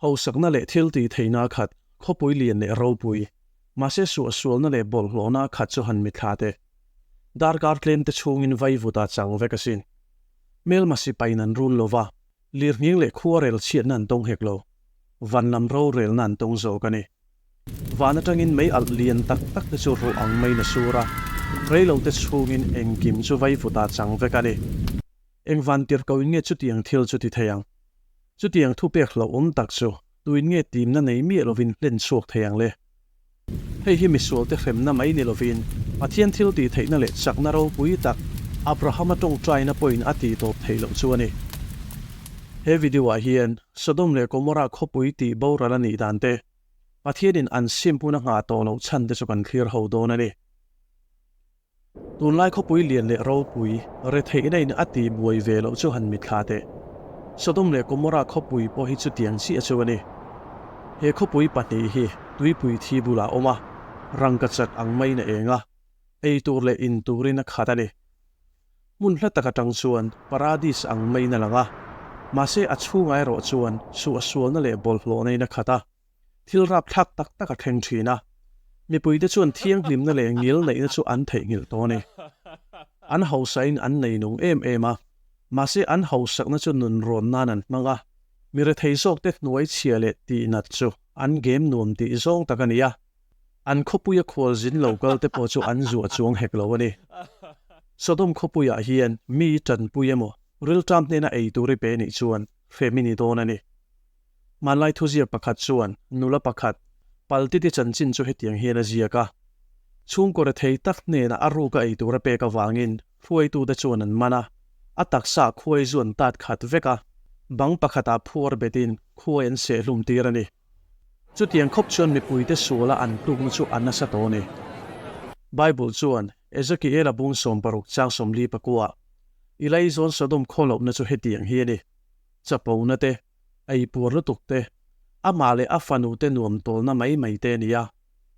Hausakna leh thil tih theihna khat khawpui lian leh ropui. Mahse suahsualna leh bawlhhlawhna khat chu han mitthla teh. Darkar tlente chhungin vaivuta chang vek a si. Hmel masi pain an run lo va, lirhning leh khuarel chhiatna an tawng hek lo. Vanlam rorelna an tawng zawk a ni. Van atangin mei alh lian tak takte chu ruh ang mai na sur a, reilote chhungin engkim chu vaivuta chang vek a ni. Engvan tirh ko in nge chutiang thil chu ti thei ang? Chutiang thupek hlauhawm tak chu Tuin nge timna nei miah lovin plan chhuak thei ang le? Hei hi misualte hremna mai ni lovin Pathian thiltihtheihna leh chakna ropui tak Abrahama tawngtaina pawhin a tihtawp thei loh chu a ni. He video-ah hian Sodom leh Gomorrah khawpui tih boral a nih dan te, Pathianin an sim hmun a nghah tawh loh chhan te chu kan thlir ho dawn a ni. Tunlai khawpui lian leh ropui retheih neiin a ti buai ve loh chu han mitthla teh. Sodom leh Gomorrah khawpui pawh hi chutiang chiah chu a ni. He khawpui pahnih hi tuipui thi bulah awm a, rangka chat ang maiin a eng a, ei tur leh in turin a khat a ni. Hmun hla tak atang chuan Paradis ang maiin a lang a, mahse a chhunga erawh chuan suahsualna leh bawlhhlawhna in a khat a. Thil rapthlak tak tak a thleng thin a, mipuite chuan thianghlimna leh ngil neihna chu an theihnghilh tawh a ni. An hausain an nei nung em em a, mahse an hausakna chu nun rawn nan an hmang a, mi rethei zawkte hnuaichhia leh tihnat chu an gem nuam tih zawng tak a ni a, an khawpuia khualzin lo kalte pawh chu an zu a chuang hek lo a ni. Sodom khawpuiah hian mi tanpui emaw rilṭam hnena ei tur i pe nih chuan hremi ni dawn a ni. Hmanlai thuzir pakhat chuan nula pakhat pal titi chanchin chu hetiang hian a ziak a, Chhungkaw rethei tak hnena a ruk a ei tur a pek avangin hruaitute chuan an man a, a taksa khuai zu an tat khat vek a, bang pakhatah phuar betin khuai an sehhlum tir a ni. Chutiang khawp chuan mipuite suala an tukna chu a nasa tawh a ni. Bible chuan Ezekiela bung sawm paruk chang sawmli pakua i lei zawn Sodom khaw lohna chu hetiang hi a ni. Chapona te, eipuar lutuk te, amah leh a fanu te nuam tawlna mai mai te a ni a,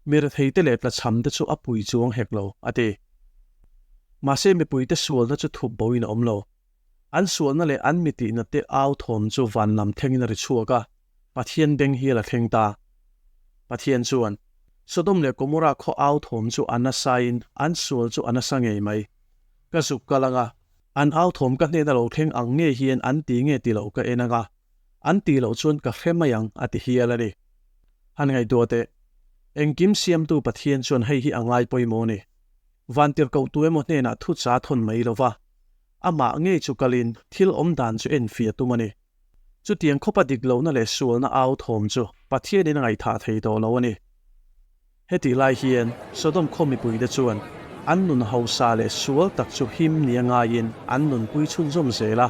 mirthei te leh tlachham te chu a pui chuang hek lo, a ti. Mahse, mipuite sualna chu thup boin a awm lo. An sualna leh an mitihna te au thawm chu vanlam thengin a ri chhuak a, Pathian beng hi a la thleng ta. Pathian chuan, Sodom leh Gomorrah khaw au thawm chu a nasa in an sual chu a nasa ngei mai. Ka zuk ka la nga, An authawm ka hnena lo thleng ang nge hian an ti nge tilo ka en anga, an ti loh chuan ka hre mai ang a ti hial a ni. Han ngaihtuah teh, engkim Siamtu Pathian chuan hei hi a ngai pawimawh ni. Vantirhkoh tu emaw hnenah thu cha thawn mai lova, amah ngei chu kalin thil awmdan chu en fia tum a ni. Chutiang khawpa dik lohna leh sualna au thawm chu Pathianin a ngaihthah thei tawh lo a ni. Hetih lai hian Sodom khaw mipuite chuan an nun hausa leh sual tak chu him nia ngaiin an nun pui chhun zawm zel a,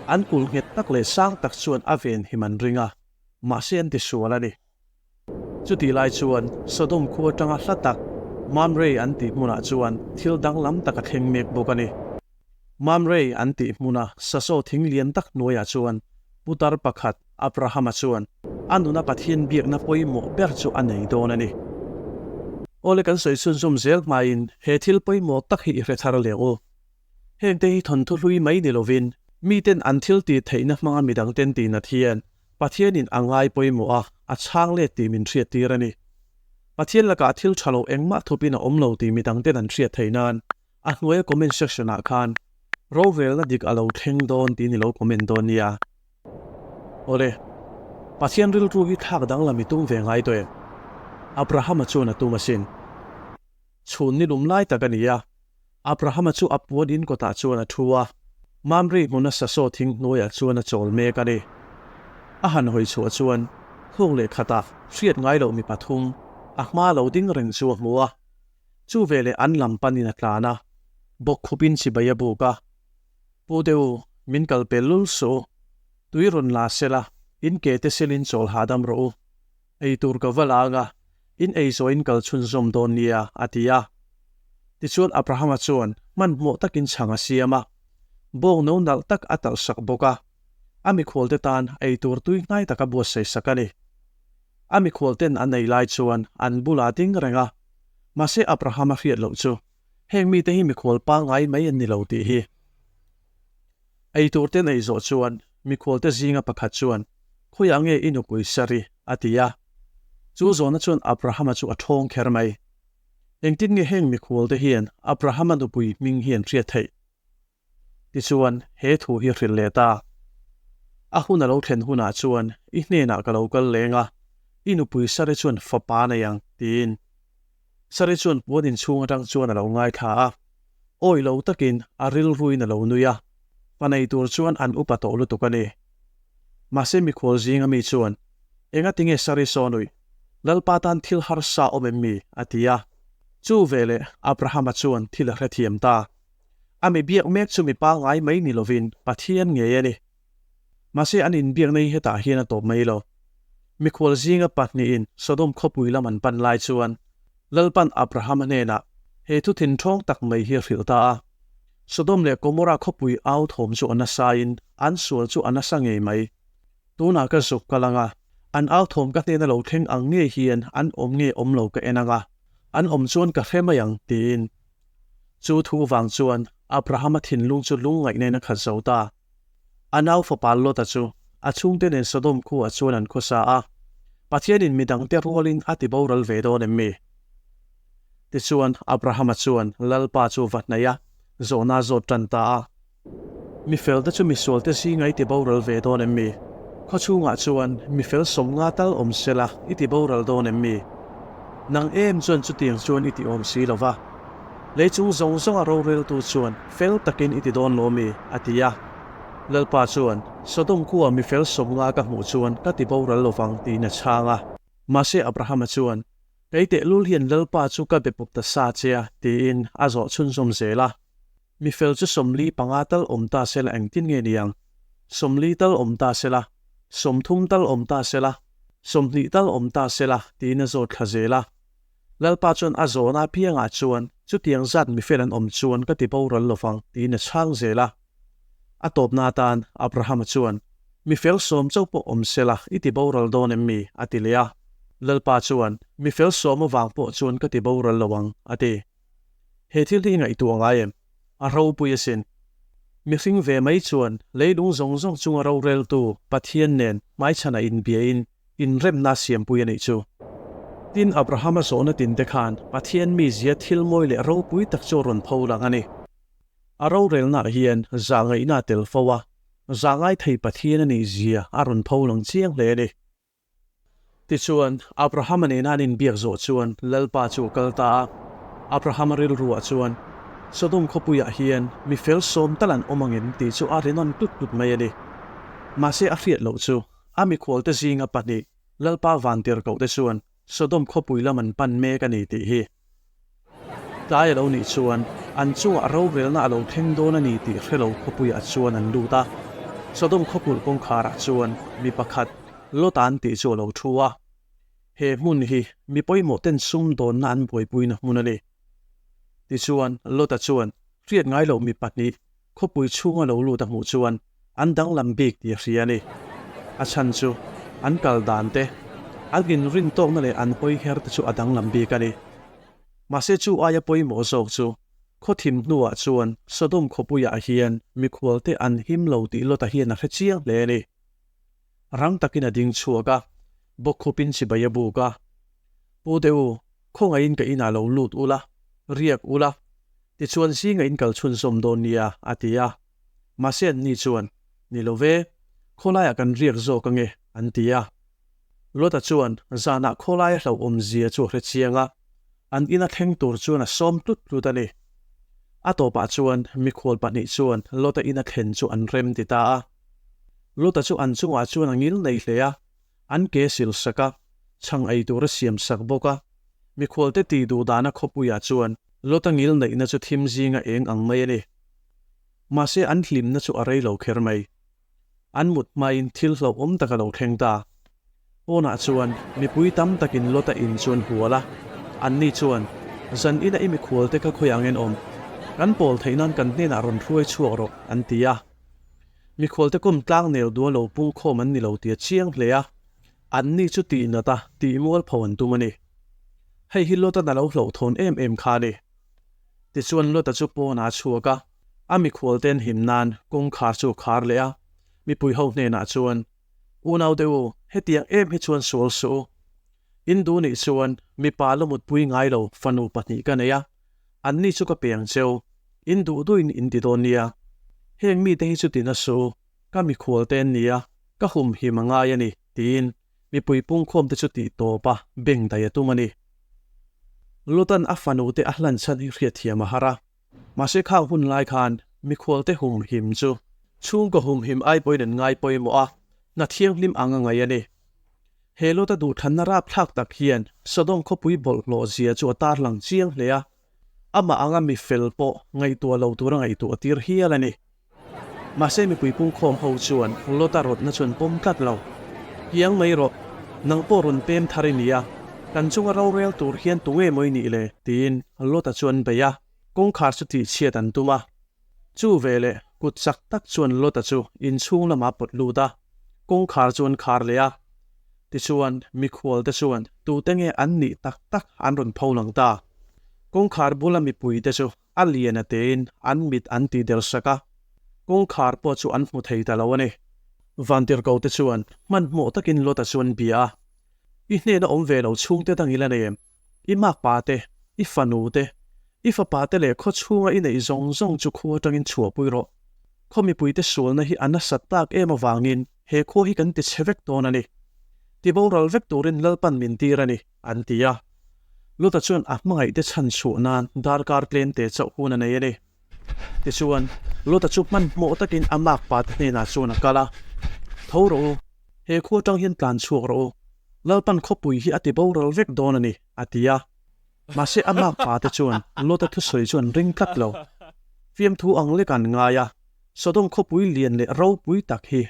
an kul nghet tak leh sang tak chuan a ven him an ring a, mahse an ti sual a ni. Chutih lai chuan Sodom khua atanga hla tak Mamre an tih hmunah chuan thil danglam tak a thleng mek bawk a ni. Mamre an tih hmuna Saso thing lian tak hnuaiah chuan putar pakhat Abrahama chuan a nuna Pathian biakna pawimawh ber chu a nei dawn a ni. Awle kan sawi chhun zum zel hmain he thil pawimawh tak hi i hrethar leh u. Hengte hi thawnthu hlui mai ni lovin miten an thiltih theihna hmanga midangten tih nat hian Pathianin a ngai pawimawh a, a chhang let tih min hriattir a ni. Pathian lakah thil tha lo engmah thupin a awm lo tih mi dangten an hriat theih nan, a hnuaia comment section-ah khan, Rovelna dik a lo thleng dawn tiin i lo comment dawn nia. Awle. Pathian rilru hi thlak dang lam i tum ve ngai tawh em? Abrahama chuan a tum asin. Chhun ni lum lai tak a ni a. Abrahama chu a puan in kawtah chuan a thu a, Mamre hmun a sasaw thing hnuaiah chuan a chawl mek a ni. A han hawi chhuah chuan thuk leh khatah hriat ngai loh mi pathum a hma lo ding reng chu a hmu a, chu veleh an lam panin a tlan a, bawk khupin chibai a buk a, Pu deuh, min kal pe lul suh, tui rawn la sela, in ke te selin chawl hahdam rawh u. Ei tur ka va la anga, in ei zawhin kal chhunzawm dawn nia, a ti a. Tichuan Abrahama chuan hmanhmawh takin chhang a siam a, bawng no nalh tak a talh sak bawk a, a mikhualte tan ei tur tui hnai taka buatsaih sak a ni. A mikhualten an ei lai chuan an bula ding reng a, mahse Abrahama hriat loh chu. Heng mite hi mikhual pangai mai an ni lo tih hi eiturte nei zawh chuan mikhualte zinga pakhat chuan, Khawiah nge i nupui sa ri? a ti a. Chu zawna chuan Abrahama chu a thawng kher mai. Engtin nge heng mikhualte hian Abrahama nupui hming hian hriat theih? Tichuan, he thu hi hrilh leh ta. A hun a lo thlen hunah chuan i hnenah ka lo kal leng a, i nupui Sari chuan fapa nei ang, tiin. Sari chuan puan inchhung atang chuan a lo ngaithla a, awih lo takin a rilruin a lo nui a, fa nei tur chuan an upa tawh lutuk a ni. Mahse, mikhual zinga mi chuan, Engatinge Sari sawn awih? Lalpa tan thil harsa awm em mi? a ti a. Chu veleh Abrahama chuan thil a hrethiam ta. A mi biak mek chu mi pangngai mai ni lovin Pathian ngei a ni. Mahse an inbiak nei hetah hian a tawp mai lo. Mi khual zinga pahnihin Sodom khawpui lam an pan lai chuan Lalpan Abrahama hnenah he thu thinṭhawng tak mai hi a hrilh ta a. Sodom leh Gomora khawpui au thawm chu a nasaiin an sual chu a nasa ngei mai. Tunah ka zuk ka lang a, an au thawm ka hnena lo thleng ang nge hian an awm nge awm lo ka en ang a, an awm chuan ka hre mai ang, tiin Chu thu vang chuan Abrahama thinlung chu lungngaih nena khat zo ta. A nau fapa Lota chu a chhungte nen Sodom khuah chuan an khaw sa a. Pathianin midangte rualin a tiboral ve dawn em mi? Tichuan, Abrahama chuan Lalpa chu va hnaih a, zawhna zawt tan ta a. Mi felte chu misualte si ngai ti boral ve dawn em mi? Khaw chhungah chuan mi fel sawm nga tal awm sela i ti boral dawn em mi? Nang em chuan chutiang chuan i ti awm si lo va. Lei chung zawng zawnga roreltu chuan fel takin i ti dawn lo mi? a ti a. Lalpa chuan, Sodom khuaa mi fel sawm nga ka hmuh chuan ka ti boral lo vang tiin a chhang a. Mahse Abrahama chuan, Kei tehlul hian Lalpa chu ka be pup ta sa che a, tiin a zawh chhunzawm zel a. Mi fel chu sawmli panga tal awm ta sel engtin nge ni ang? Sawmli tal awm ta sela, sawmthum tal awm ta sela, sawmhnih tal awm ta sela tiin a zawt thla zel a. Lalpa chuan a zawn apiangah chuan chutiang zat mi fel an awm chuan ka ti boral lovang tiin a chhang zel a. A tawpna atan Abrahama chuan, Mi fel sawm chauh pawh awm sela i ti boral dawn em mi? a ti leh a. Lalpa chuan, Mi fel sawm avang pawh chuan ka ti boral lo ang, a ti. He thil hi i ngaihtuah ngai em? A ropui a sin. Mihring ve mai chuan leilung zawng zawng chunga roreltu Pathian nen hmaichhanah inbiain inremna a siampui a nih chu. Tin, Abrahama zawhna tin te khan Pathian mizia thilmawi leh ropui tak chu a rawn pho lang a ni. A rorelnah hian zah ngaihna a tel fo a, zahngai thei Pathian a nihzia a rawn pho lang chiang hle a ni. Tichuan, Abrahama nena an inbiak zawh chuan Lalpa chu a kal ta a. Abrahama rilruah chuan, Sodom khawpuiah hian mi fel sawm tal an awm angem tih chu a rinawm tut tut mai a ni. Mahse, a hriat loh chu, a mikhualte zinga pahnih Lalpa vantirhkohte chuan Sodom khawpui lam an pan mek a ni tih hi. Tlai a lo nih chuan an chungah a rovelna a lo thleng dawn a ni tih hre lo khawpuiah chuan an lut a. Sodom khawpulh kawngkharah chuan mi pakhat Lotan tih chu a lo thu a. He hmun hi mi pawimawhten sumdawnna an buaipuina hmun a ni. Tichuan, Lota chuan hriat ngai loh mi pahnih Khawpui chhung a lo lut a hmuh chuan an danglam bik tih a hria a ni. A chhan chu an kal dan te, an inrin tawkna leh an hawi her te chu a danglam bik a ni. Mahse chu aia pawimawh zawk chu khawthim hnuah chuan Sodom khawpuiah hian mikhualte an him lo tih Lota hian a hre chiang hle a ni. rang takin a ding chhuak a, bawk khupin chibai a buk a, Pu Deu, khawngaihin ka inah lo lut ula, riak ula, tichuan zingaihin kal chhunzawm dawn nia a ti a, mahse an ni chuan, Ni lo ve, khawlaiah kan riak zawk ange an ti a, Luata chuan zanah khawlaia hlauhawm zia chu a hrechiang a, an ina thleng tur chuan a sawm tlut tlut a ni. A tawpah chuan mikhual pahnih chuan Luata ina thlen chu an rem ti ta a. Luta chu an chungah chuan a ngil nei hle a, an ke sil sak a, chhang ei tura siam sak bawk a. Mikhualte tih duh dana khawpuiah chuan Luta ngil neihna chu thim zinga eng ang mai a ni. Mahse an hlimna chu a rei lo kher mai. An mut hmain thil hlauhawm taka lo thleng ta. Pawnah chuan mipui tam takin Lota in chu an hual a, anni chuan, Zan ila i mikhualte ka khawi angin awm, kan pawl theih nan kan hnenah rawn hruai chhuak rawh, an ti a. Mikhualte kawm tlâng nêl dual lo pungkhawm an ni lo tia chiang hle a, anni chu tih nata, tih mual pho an tum a ni. Hei hi Lota na lo hlawhthawn em em kha ni. Tichuan Lota chu pawnah a chhuak a, a mikhualte'n him nân kawngkhar chu a khar leh a, mipui ho hnenah chuan, Unaute u, hetiang em hi chuan sual suh u. Indu nih chuan, Mipa la mutpui ngai lo fanu pahnih ka nei a, an ni chu ka peng che u. In duh duhin in ti dawn nia. Heng mite hi chu ti na suh u, ka mikhualte an ni a, ka hum him a ngai a ni, tiin mipui pungkhawm te chu tih tawp a, beng daih a tum a ni. Lutan a fanute a hlan chhan hi hriatthiam a har a, Mahse khang hun lai khan mikhualte hum him chu chhungkaw hum him ai pawhin an ngai pawimawh a, hna thianghlim ang a ngaih a ni. He Lota duhthanna rapthlak tak hian Sodom khawpui bawlhhlawh zia chu a tarlang chiang hle a, amah anga mi fel pawh ngaihtuah lo tura ngaihtuah tir hial a ni. Mahse mipui pungkhawm ho chuan Lota rawtna chuan pawm tlat lo. Kiang mai rawh, nang pawh rawn pem thar i nia, kan chunga rorel tur hian tunge mawi nih le? tiin Lota chuan bei a kawngkhar chu tihchhiat an tum a. Chu ve leh kut chak tak chuan Lota chu in chhung lamah pawt lut a, kawngkhar chu an khar leh a. Tichuan mikhualte chuan tute nge an nih tak tak an rawn pho lang ta. Kawngkhar bula mipuite chu a lian a tein an mit an ti der sak a, kawngkhar pawh chu an hmu thei ta lo a ni. Vantirhko te chuan hmanhmawh takin Lota chuan bia a, I hnena awm ve lo chhungte dang ila nei em? I makpa te, i fanu te, i fapa te leh khawchhunga i neih zawng zawng chu khua tangin chhuahpui rawh. Khaw mipuite sualna hi a nasat tak em avangin he khua hi kan ti che vek dawn a ni. Ti boral vek turin Lalpan min tir a ni. an ti a. Luta chuan a hmangaihte chhan chhuah nan darkar tlente chauh hun a nei a ni. Tichuan, Luta chu hmanhmawh takin a makpat hnenah chuan a kal a, Tho rawh u, he khua tang hian tlan chhuak rawh u, Lalpan khawpui hi a ti boral vek dawn a ni, a ti a. Mahse, a makpate chuan Luta thusawi chu an ring tlat lo. Fiamthu ang leka an ngai a, Sodom khawpui lian leh ropui tak hi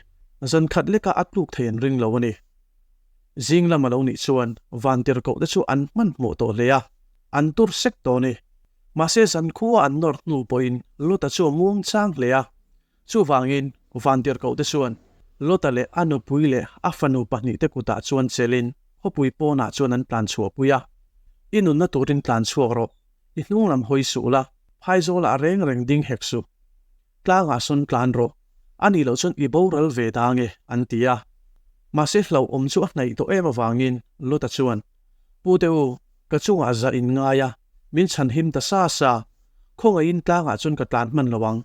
zankhat leka a tluk thei an ring lo a ni. Zing lam a lo nih chuan van tirhkoh te chu an hman hmuh tawh hle a, an tur sek tawh ni. Mahse zan khua an nawr hnu pawhin Lota chu a muang chang hle a. Chuvangin van tirhkoh te chuan Lota leh a nupui leh a fanu pahnih te kutah chuan chelhin khawpui pawnah chuan an tlan chhuah pui a. I nunna turin tlan chhuak rawh, i hnunglam hawi suh la, phai zawlah a reng reng ding hek suh. Tlangah sawn tlan rawh, a nih loh chuan i boral ve dang e, an ti a. Mahse hlauhawm chu a hnaih tawh em avangin Lota chuan, Pu Deu, ka chungah zah in ngai a, min chhan him ta sa sa, khawngaihin tlangah chuan ka tlan hman lo ang.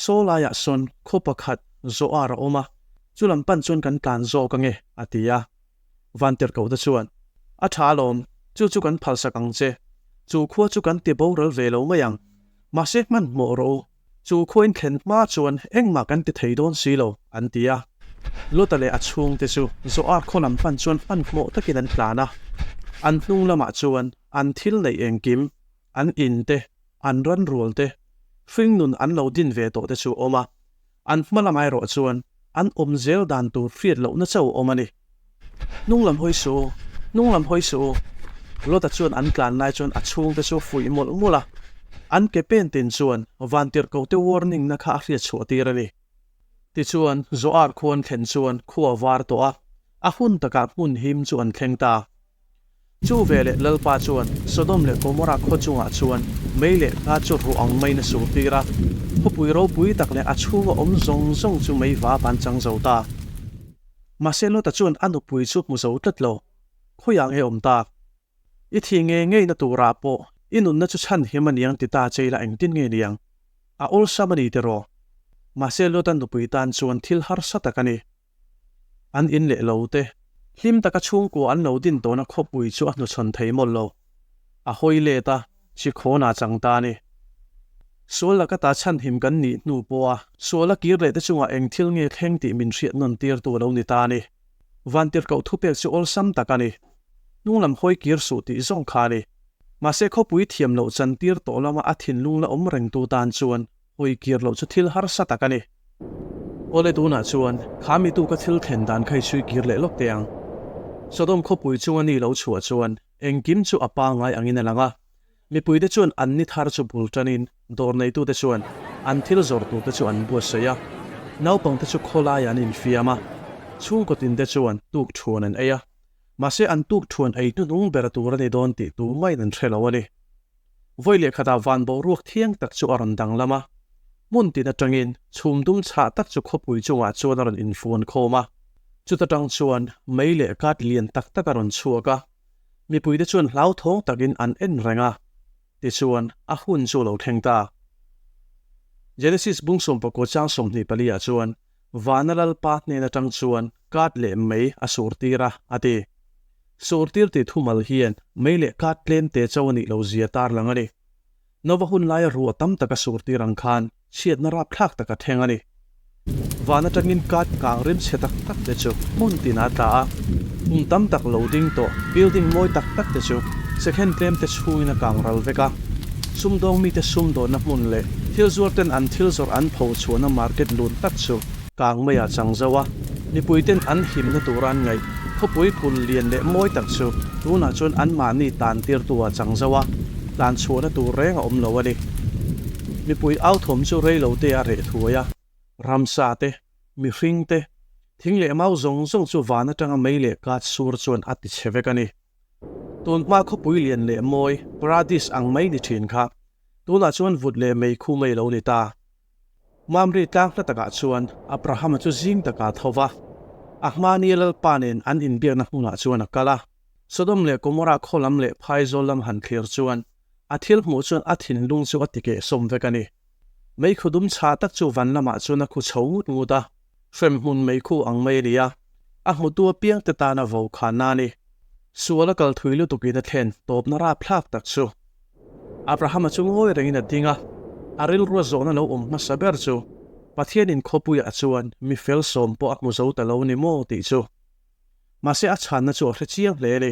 Saw laiah sawn khaw pakhat zawh ar a awm a, chu lam pan chuan kan tlan zawk ange, a ti a. Vantirhkohna chuan, A tha alawm, chu chu kan phalsak ang che. Chu khua chu kan ti boral ve lo mai ang. Mahse hmanhmawh rawh u, chu khuain thlen hma chuan engmah kan ti thei dawn si lo, an ti a. Lota leh a chhungte chu Zoar khawlam hman chuan hmanhmawh takin an tlan a. An hnung lamah chuan an thil neih engkim, an in te, an ran rual te, hringnun an lo din ve tawh te chu a awm a. An hma lam erawh chuan an awm zel dan tur hriat lohna chauh a awm a ni. Hnunglam hawi suh u, hnunglam hawi suh u. Lota chuan an tlan lai chuan a chhungte chu a fuih mawlh mawlh a. An ke pen tin chuan Vantirhkote warning-na kha a hriat chhuah tir a ni. Tichuan Zoar khuan thlen chuan khua var tawh a, a hun takah hmun him chu an thleng ta. Chu ve leh Lalpa chuan Sodom leh Gomorrah khaw chungah chuan mei leh hla chu ruh ang mai na sultir a, khawpui ropui tak leh a chhunga awm zawng zawng chu mei vap an chang zo ta. Mahse Lota chuan a nupui chu hmu zo tlat lo, khawi ang e awm ta. I thi ngei ngei na turah pawh i nunna chu chhan him a niang ti ta chei la engtin nge niang? A awlsam a ni tiraw? Mahse Lota nupui tan chuan thil harsa tak a ni. An in leh lo te. Hlim taka chhungkua an lo din tawhna khawpui chu a hnuchhawn thei mawlh lo. A hawi let a, Chikhawnaa chang ta ni. Sual laka ta chhanhim kan nih hnu pawh a. Suala kir leh te chungah eng thil nge thleng tih min hriat nawn tirtu a lo ni ta ni. Vantirhkoh thupek chu awlsam tak a ni. Hnunglam hawi kir suh tih zawng kha a ni. Mahse khawpui thiam loh chantir tawh lama a thinlung la awm rengtu tan chuan. Hawi kir loh chu thil harsa tak a ni. Awle tunah chuan kha mitu ka thil thlen dan kha i sawi kir leh lawk teh ang. Sodom khawpui chunga ni lo chhuah chuan engkim chu a pangngai angin a lang a. Mipuite chuan an ni thar chu bul tanin dawr neitute chuan an thil zawrh turte chu an buatsawi a. Naupangte chu khawlaiah an infiam a. Chhungkaw tinte chuan tuk thuan an ei a. Mahse an tuk thuan ei hnuhnung ber tur a ni dawn tih tumain an hre lo a ni. Vawi leh khatah van boruak thiang tak chu a rawn danglam a, hmun tin atangin chhum dum chhah tak chu khawpui chungah chuan a rawn infuan khawm a, chuta tang chuan mei leh kat lian tak tak a rawn chhuak a, mipuite chuan hlauthawng takin an en reng a, tichuan a hun chu lo thleng ta. Genesis bung sawmpakua chang sawmhnih pali ah chuan Vana Lalpa hnen atang chuan kat leh mei a sur tir a, a ti. Sur tir tih thumal hian mei leh kat tlem te chau a nih lo zia tar lang a ni. Nova hun laia ruah tam taka sur tir ang khan chhiatna rap thlak taka theng a ni. Van atangin kat kang rimchhe tak tak te chu hmun tin a tla a, kum tam tak lo ding tawh building mawi tak tak te chu second tlem te chhuin a kang ral vek a. Sumdawng mite sumdawnna hmun leh thil zuarten an thil zawrh an pho chhuahna market lun tak chu. Kang maiah chang zo a, mipuiten an himna turan ngaih khawpui kul lian leh mawi tak chu tunah chuan anmahni tlan tirtuah chang zo a, tlan chhuahna tur reng a awm lo a ni. Mipui authawm chu reilote a reh thuai a, ramsa te, mihring te, thing leh mau zawng zawng chu van atanga mei leh kat sur chuan a ti chhe vek a ni. Tunhma khawpui lian leh mawi, paradise, ang mai ni thin kha, tunah chuan vut leh mei khu mai lo ni ta. Mamre tlang hla takah chuan Abrahama chu zing taka tho va, a hmani Lalpa nen an inbiakna hmunah chuan a kal a. Sodom leh Gomorrah khawlam leh phaizawl lam han thlir chuan a thil hmuh chuan a thinlung chu a ti keh sawm vek a ni. Meikhu dum chhah tak chu van lamah chuan a khu chho ngut ngut a, hremhmun meikhu ang mai a ni a, a hmutu apiang te tana vo kha nani sual a kal thui lutukin a thlen tawpna rap thlak tak chu Abrahama chu ngawi rengin a ding a, a rilrua zawhna lo awm hmasa ber chu Pathianin khawpuiah chuan mi fel sawm pawh a hmu zo ta lo ni maw tih chu. Mahse a chhanna chu a hre chiang hle a ni.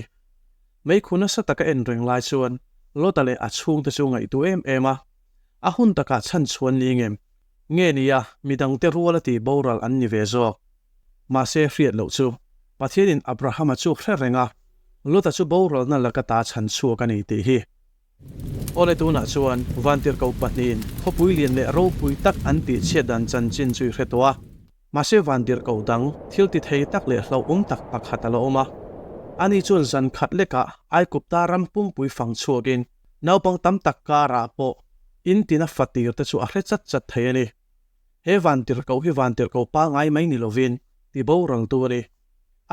Meikhu nasa taka en reng lai chuan Lota leh a chhungte chu ngaihtuah em em a, A hun takah chhan chhuan ning em? Nge nia, midangte rual a tih boral an ni ve zawk. Mahse, hriat loh chu, Pathianin Abrahama chu hre reng a, Lota chu boralna laka ta chhan chhuak a ni tih hi. Awle tunah chuan vantirhko pahnihin khawpui lian leh ropui tak an tihchhiat dan chanchin chu i hre tawh a. Mahse, vantirhko dang thiltithei tak leh hlauhawm tak pakhat a la awm a. Ani chuan zan khat lekah Aikupta ram pumpui fang chhuakin Naupang tam tak karah pawh in tina fa tir te chu a hre chat chat thei a ni. He vantirhkoh hi vantirhkoh pangai mai ni lovin ti boral tu a ni.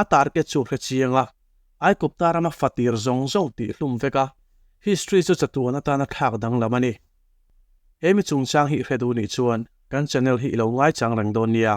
A target chu hre chiang a, Aikawpta rama fa tir zawng zawng tih hlum vek a, history chu chatuan atana thlak danglam a ni. He mi chungchang hi hre duh nih chuan kan channel hi i lo ngaichang reng dawn nia.